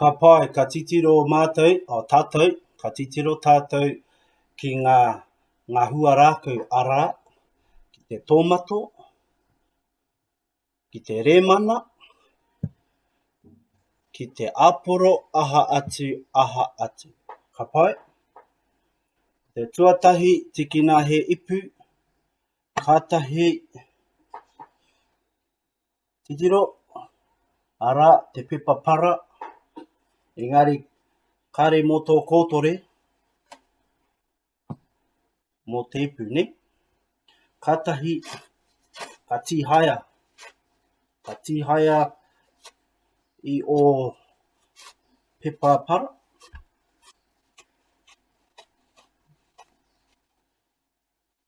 Ka pai, ka titiro mātou, o tātou, ka titiro tātou ki ngā, ngā huarākau, arā, ki te tōmato, ki te rēmana, ki te āporo, aha atu, aha atu. Ka pai? Te tuatahi, tīkina he ipu, Kātahi titiro, arā, te pepa para, engari kāre mō tō kōtore, mō te ipu, ne? Kātahi ka tīhaea, ka tīhaea i o pepa para,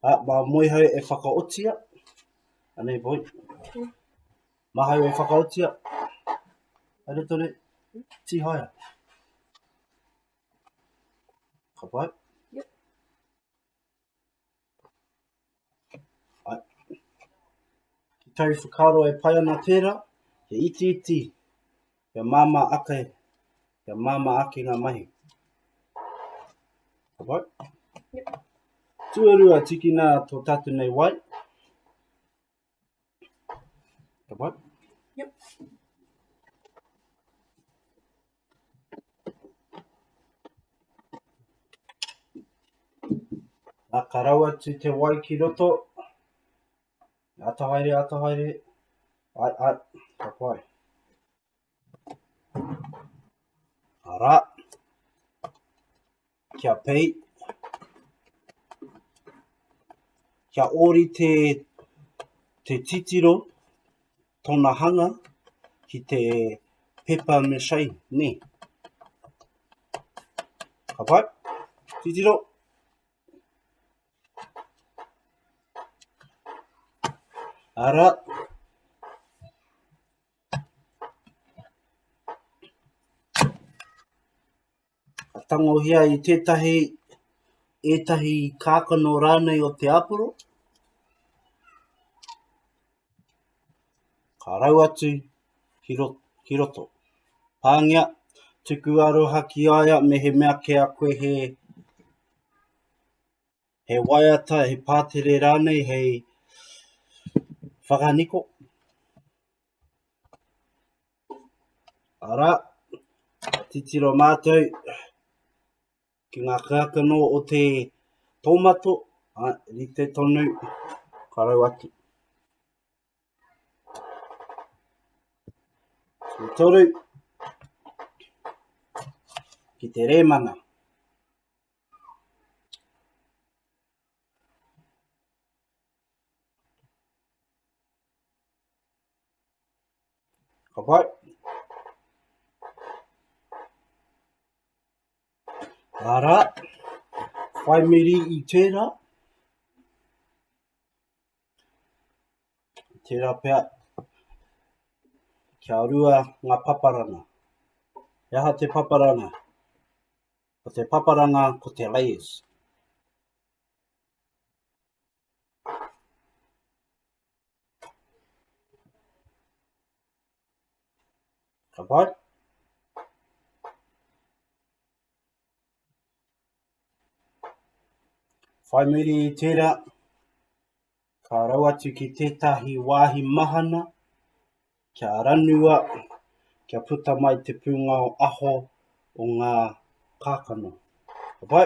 A, mā Moehau e whakaotia, anei boy, Mahau e whakaotia, haere tonu, tīhaea. Ka pai? Ki tau whakaaro e pai ana tērā, he itiiti, Kia māmā ake, kia māmā ake ngā mahi. Ka pai? Yep. Tuarua, tikina tō tātou nei wai. Ka pai? Yep. Nā ka rau atu te wai ki roto, Ata haere, ata haere. Ai, ai, ka pai. Ara. Kia pei. Kia ori te, te titiro, tona hanga, ki te pepa me shai, ne. Ka pai. Titiro. Titiro. Ara. Ka tangohia i tētahi, ētahi kākano rānei o te aporo. Ka rau atu ki, ro, ki roto. Pāngia, tuku aroha ki aia me he mea ke a koe he he waiata, he pātere rānei hei whakaniko. Arā, titiro mātou ki ngā kākano o te tōmato, a, rite tonu, karau atu. Te toru, ki te rēmana. Ka pai. Ara, whai meri i tērā. Tērā pia, kia rua ngā paparana. He aha te paparana? Ko te paparanga ko te layers. Ka pai? Whai muri i tērā, Ka rau atu ki tētahi wāhi mahana, kia ranua, kia puta mai te pūngao aho o ngā kākano. Ka pai?